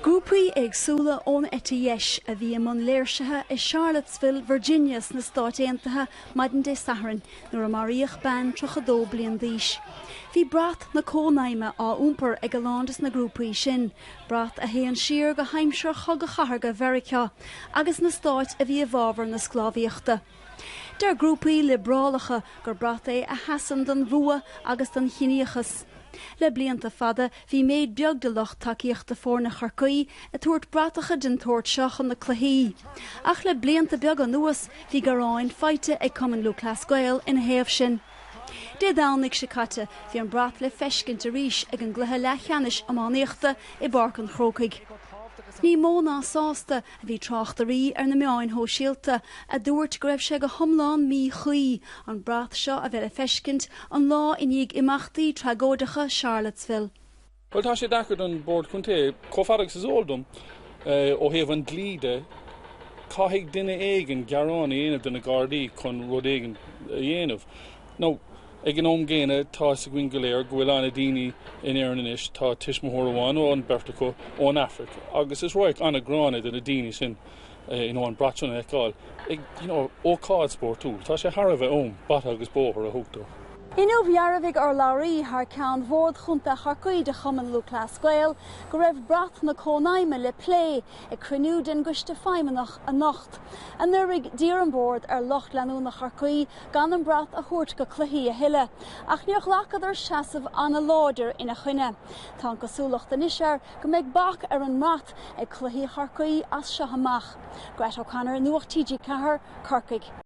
Grúpaí éagsúla ón eite dheis a bhí i mbun léirsithe i Charlottesville, Virginia sna Stáit Aontaithe maidin Dé Sathairn nuair a maraíodh bean 32 bliain d'aois. Bhí brat na Cónaidhme á iompar ag a lán de na grúpaí sin, brat a théann siar go haimsir Chogadh Chathartha Mheiriceá, agus na stáit a bhí i bhfabhar na sclábhaíochta. Deir grúpaí liobrálacha gur brat é a sheasann don bhfuath agus don chiníochas. Le blianta fada, bhí méid beag de lucht tacaíochta foirne Chorcaí ag tabhairt bratacha den tsórt seo chun na cluichí. Ach le blianta beaga anuas, bhí gearáin faighte ag Cumann Lúthchleas Gael ina thaobh sin. Dé Domhnaigh seo caite, bhí an brat le feiscint arís ag an gcluiche leathcheannais iománaíochta i bPáirc an Chrócaigh. Ní mó ná sásta Bhí tráchtairí ar na meáin shóisialta a dúirt go raibh sé go hiomlán míchuí an brat seo a bheith le feiscint an lá i ndiaidh imeachtaí tragóideacha Charlottesville. Bhuel, tá sé deacair don Bhord Contae, chomh fada agus is eol dom, ó thaobh an dlí de. Caithfidh duine éigin gearán a dhéanamh do na Gardaí chun rud éigin a dhéanamh. Nó, ag an am gcéanna, tá fhios againn go léir go bhfuil an-daoine in Éirinn anois, tá tuismitheoir amháin, nó an beirt acu, ón Afraic, agus is radharc an-ghránna do na daoine sin, you know, an brat sin a fheiceáil, ag, you know, ócáid spórtúil. Tá sé thar a bheith am bata agus bóthar a thabhairt dó. Inniu, dhearbhaigh urlabhraí thar ceann Bhord Chontae Chorcaí de Chumann Lúthchleas Gael go raibh brat na Cónaidhme le plé ag cruinniú den gCoiste Feidhmeannach anocht. Anuraidh, d'iarr an Bord ar lucht leanúna Chorcaí gan an brat a thabhairt go cluichí a thuilleadh, ach níor ghlacadar seasamh an-láidir ina choinne. Tá an cosúlacht anois air go mbeidh bac ar an mbrat ag cluichí Chorcaí as seo amach. Grett O'Connor, Nuacht TG4, Corcaigh.